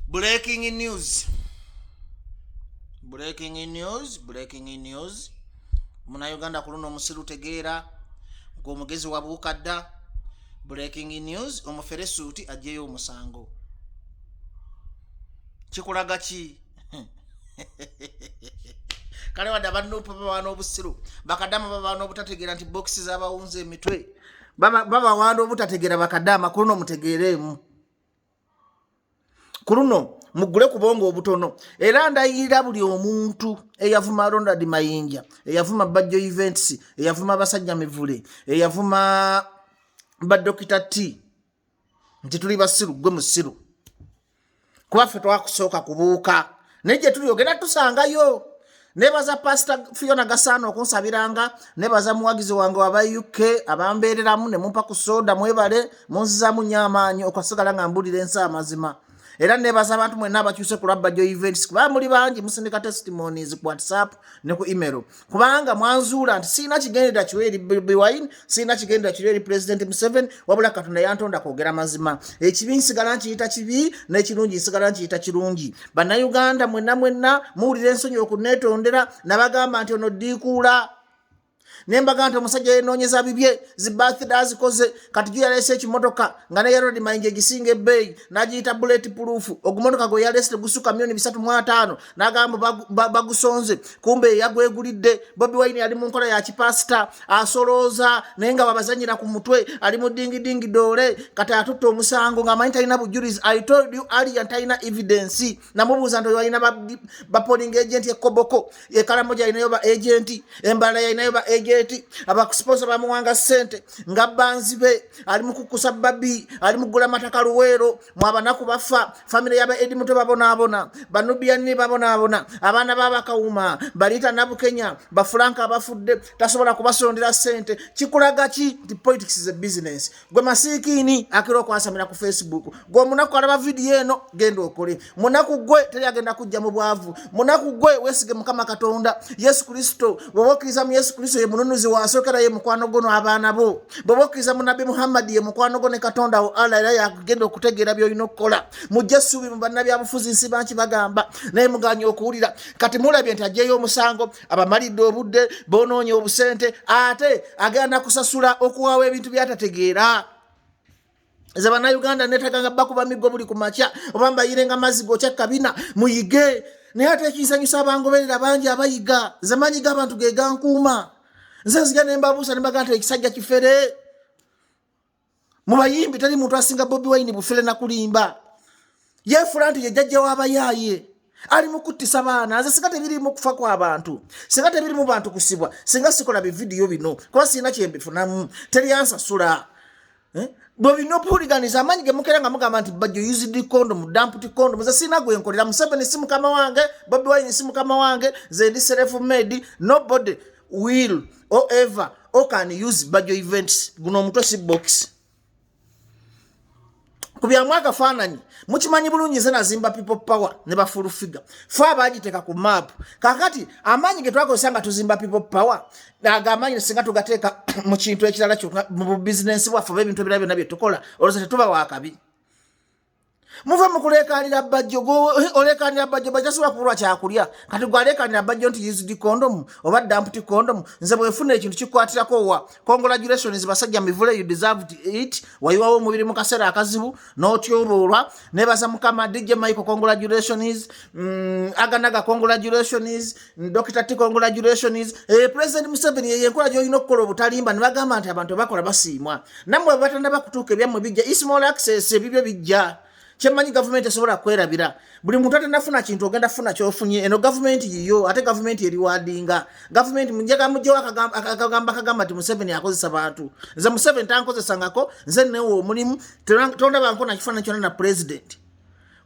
breaking news breaking news breaking news munauganda ku luno omusiru tegeera ng'omugezi wabuuka dda breaking news omufere suuti ajjeyo omusango kikulaga ki kale wadde abanupu babawa n'obusiru bakadaama babawa n'obutategeera nti bokisi zabawunza emitwe babawaana obutategeera bakadaama ku luno mutegeereemu ku luno mugule kubonga obutono era ndayirira buli omuntu eyavuma ronald mayinja eyavuma bajjo events eyavuma abasajja mivule eyavuma badokita t nti tuli basiru gwe musiru kuba ffe twakusooka kubuuka naye gye tuli ogenda tusangayo nebaza pasita fiona gasaana okunsabiranga nebaza muwagizi wange waba uk abambeereramu ne mumpa ku sooda mwebale munzizamu nyo amaanyi okwasigala nga mbulira ensi amazima era nebaza abantu mwena abakyuse ku lwabba jo events kuba muli bangi musindika testimonies ku whatsapp ne ku email kubanga mwanzuula nti sirina kigendera kiwa eri biwine sirina kigendera kiwa eri pulezidenti museveni wabula katonda yantonda kwogera mazima ekibi nsigala nkiyita kibi n'ekirungi nsigala nkiyita kirungi bannayuganda mwenna mwenna muwulira ensonyi okuneetondera nabagamba nti ono ddiikuula nembaga nti omusajja yenoonyeza bibye zibathida azikoze kati gyo yaleese ekimotoka nga ne yarod mayinja egisinga ebbeeyi n'agiyita buleti puluufu ogumotoka gwe yaleese tegusuka milioni bisatu mu ataano nagamba bagusonze ba, ba kumbe yagwegulidde bobi wine ali mu nkola ya kipasita asolooza naye nga babazanyira ku mutwe ali mu dingidingi doole kati atutte omusango ngaamanyi talina bujulizi i told you alian talina evidence namubuuza nti oyo alina bapoling ba agenti ekoboko ekalamo gyalinayo ba agenti embala yalinayo ba agenti abakusiponsa bamuwanga sente nga banzi be ali mukukusa babi ali mugula mataka luweero mwabanaku bafa famire yaba edi muto babonaabona banubiyanini babonaabona abaana babakawuma baliita nabukenya bafulanka abafudde tasobola kubasondera sente kikulaga ki nti politics is a business gwe masiikiini akira okwasamira ku facebook gwe omunaku alaba vidiyo eno genda okole munaku gwe teri agenda kujja mu bwavu munaku gwe wesige mukama katonda yesu kristo bwoba okkiriza mu yesu kristo ye mununuzi wasookera ye mukwano gwo n'abaana bo bwoba okkiriza mu nabbi muhammadi ye mukwano gwo ne katonda wo allah era yakugenda okutegeera byolina okukola mujja essuubi mu bannabyabufuzi nsi banki bagamba naye muganya okuwulira kati mulabye nti ajeeyo omusango abamalidde obudde bonoonye obusente ate agenda kusasula okuwawo ebintu byatategeera nze bannayuganda neetaganga bakuba miggo buli ku makya oba mbayirenga mazzi gokya kabina muyige naye ate ekinsanyusa abangoberera bangi abayiga nze manyi g'abantu ge gankuuma nze nziga ne mbabuusa ne mbagaa nti ekisajja kifere mu bayimbi teri muntu asinga bobi wayini bufere nakulimba yeefula nti yejjajja w'abayaaye ali mu kuttisa baana nze singa tebirimu kufa kwa bantu singa tebirimu bantu kusibwa singa sikola bividiyo bino kuba sirina kyembifunamu teri ansasula eh? bwe bino obuhuliganiza amaanyi ge mukera nga mugamba nti bajjo used condom damputi condom ze sirina gwe nkolera museveni si mukama wange bobi wine si mukama wange ze ndi self made nobody will or ever o can use bajjo events guno omutwe si boxi ku byamu akafaananyi mukimanyi bulungi nze nazimba people power ne bafulu figure fe abagiteeka ku maapu kakati amaanyi ge twakozesa nga tuzimba people power aga amaanyi singa tugateeka mu kintu ekirala kyona mu bubizinensi bwaffe oba ebintu ebirala byonna bye tukola olwoza tetuba wakabi muve mukulekanira bajjo olekanira bajjo bajasobola kubulwa kyakulya kati gwalekanira bajjo nti used condom oba dampty condom nze bwefuna ekintu kikwatirako wa congratulations basajja mivule you deserved it wayiwawo omubiri mu kaseera akazibu n'otyololwa nebaza mukama dj michael congratulations mm, aganaga congratulations Dr. T congratulations. Eh, President Museveni yeye nkola joyina okukola obutalimba ne bagamba nti abantu bakola basiimwa. Namwe batanda bakutuuka ebyamwe bijja ismall access ebibyo bijja. Kyemanyi government esobola kwerabira. Buli muntu atanafuna kintu ogenda funa kyofunye. Eno government yiyo ate government eri wadinga. Government munjaga mujjo akagamba akagamba akagamba ti Museveni akozesa bantu. Nze Museveni tankozesa ngako nze newo omulimu tonda banko na kifana kyona na president.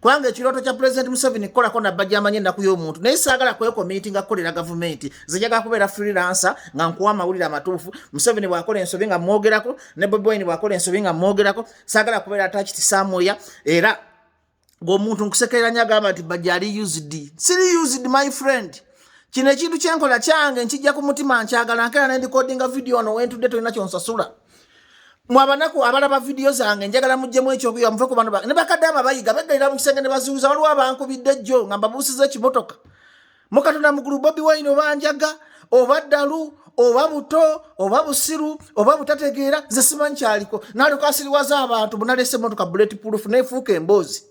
kubanga ekirooto kya pulezidenti museveni kukolako nabba gyamanya ennaku y'omuntu naye saagala kwekominti nga kukolera gavumenti zijagala kubeera freelansa nga nkuwa amawulire amatuufu museveni bw'akola ensobi nga mwogerako ne bobi wine bw'akola ensobi nga mwogerako saagala kubeera atakiti saamwoya era ng'omuntu nkusekereranya agamba nti bajali usd siri usd my friend kino ekintu kyenkola kyange nkijja ku mutima nkyagala nkeera nendikodinga vidiyo ono wentudde tolina kyonsasula mwabanaku abalaba vidiyo zange njagala mujjemu ekyokuyiga muve ku bano bange ne bakadaama bayiga beggalira mu kisenge ne bazuuza waliwo abankubidde jjo nga mbabuusiza ekimotoka mukatonda mugulu bobi wine oba njaga oba ddalu oba buto oba busiru oba butategeera nze simanyi kyaliko nalyoka asiriwaza abantu bunalese emotoka buleti pulufu nefuuka emboozi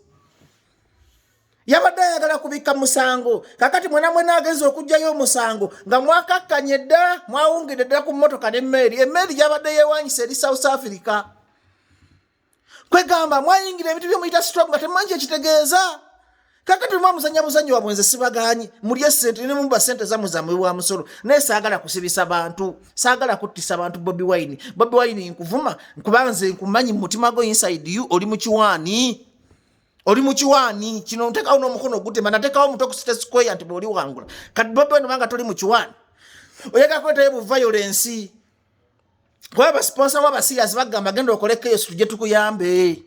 yabadde ayagala kubikka musango kakati mwena mwena agenza okugjayo omusango nga mwakakkanye dda mwawungidde ddala ku mmotoka nemmeeri emmeeri gyabadde yewanyisa eri south africa kwegamba mwayingira ebintu byomuyita strom nga temumanyi kyekitegeeza kakati mwa muzanya buzanyi wabwe nze sibaganyi mulye sente ne muba sente zamwe zamwe wa musolo naye saagala kusibisa bantu saagala kuttisa bantu bobi wine bobi wine nkuvuma nkubanze nkumanyi mu mutima gwo inside you oli mukiwaani oli mukiwaani kino ntekawo n'omukono ogutema natekawo omutwe ku state square nti bwoli wangula kati bobi wine obanga toli mukiwaani oyagala kwetayo bu violence kuba basponsa wa basirias bagamba genda okole chaos tujje tukuyambe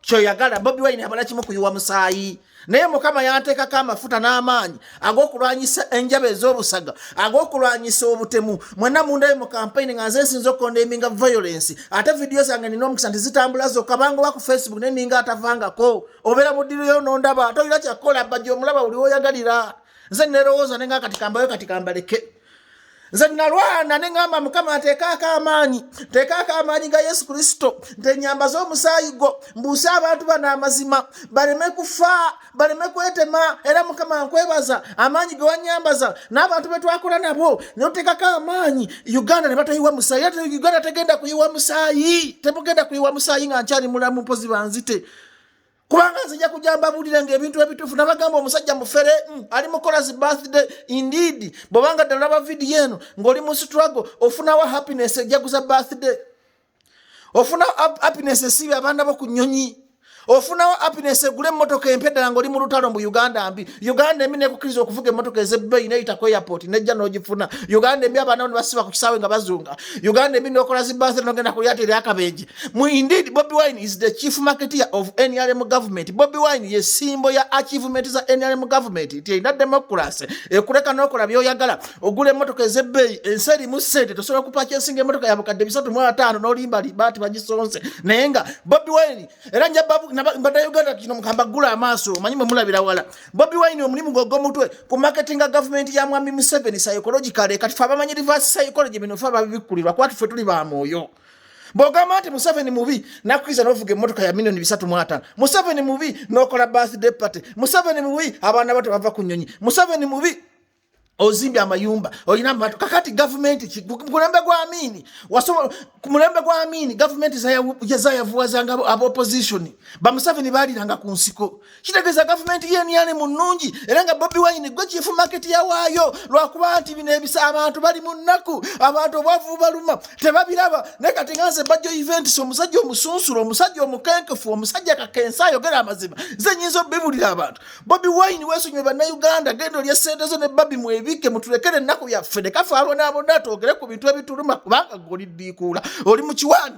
kyoyagala bobi wine abala kimu kuyiwa musaayi naye mukama yanteekako amafuta n'amaanyi ag'okulwanyisa enjaba ez'obusaga ag'okulwanyisa obutemu mwena mundayo mu kampeyini nga nze nsinza okondeminga violence ate vidiyo zange nina omukisa nti zitambula zokka banga oba ku facebook naye ninga atavangako obeera mu ddiroyo nondaba toyina kyakukola bajja omulaba buli woyagalira nze nerowooza nenga kati kambayo kati kambaleke nze nalwana ne ŋŋamba mukama nteekaako amaanyi nteekaako amaanyi ga yesu kristo ntenyamba z'omusaayi gwo mbuuse abantu bano amazima baleme kufa baleme kwetema era mukama nkwebaza amaanyi ge wanyambaza n'abantu be twakola nabo ne oteekako amaanyi uganda ne batayiwa musaayi era uganda tegenda kuyiwa musaayi temugenda kuyiwa musaayi nga nkyali mulamu mpozi banzite kubanga nzija kujja mbabuulire nga ebintu ebituufu nabagamba omusajja mufere mm, ali mukola zi birthday indeed bwobanga ddala laba vidiyo eno ng'oli mu struggle ofunawo happiness ejaguza birthday ofunawo happiness esiibe abaana bo ku nyonyi ofunawo happiness egula emmotoka empya ddala ng'oli mu lutalo mbu uganda mbi uganda embi nekukiriza okuvuga emmotoka ezebbeyi neyita ku airport nejja n'ogifuna uganda embi abaana bo ne basiba ku kisaawe nga bazunga uganda embi nokola zi birthday nogenda ku lyata eryakabenje mu indeed bobi wine is the chief marketeer of nrm government bobi wine ye simbo ya achievement za nrm government nti erina democracy ekuleka nokola byoyagala ogula emotoka ezebbeeyi ensi erimu sente tosobola kupaki ensinga emotoka ya bukadde bisatu mu ataano nolimba liba ti bagisonze naye nga bobi wine era njabada uganda kino mukamba gula amaaso omanyi mwe mulabira wala bobi wine omulimu gwe ogwomutwe ku marketinga government ya mwami museveni psychological kati fe abamanyi reverse psychology bino fe ababibikkulirwa kuba tufe tuli ba mwoyo bwogamba nti museveni mubi nakwiza novuga emotoka ya milioni bisatu mwatano museveni mubi nokola birthday party museveni mubi abaana bato bava ku nyonyi museveni mubi ozimbye amayumba olina amatu kakati gavumenti ki mulembe gwa amiini wasobola ku mulembe gwa amiini gavumenti zayavuwazanga abaopozitioni bamuseveni baaliranga ku nsiko kitegeeza gavumenti yeniyani mu nnungi era nga bobi wine gwe kyifu maketi yawaayo lwakuba nti bino ebisa abantu bali mu nnaku abantu obwavu baluma tebabiraba naye kati nga nze bajjo eventis omusajja omusunsula omusajja omukenkefu omusajja kakensa ayogera amazima ze nyinza obibulira abantu bobi wine wesonyiwe bannayuganda genda olya sente zo ne babi mwebike mutulekere ennaku yaffe nekafaalwa nabona twogere ku bintu ebituluma kubanga gwe oliddiikuula oli mu kiwaani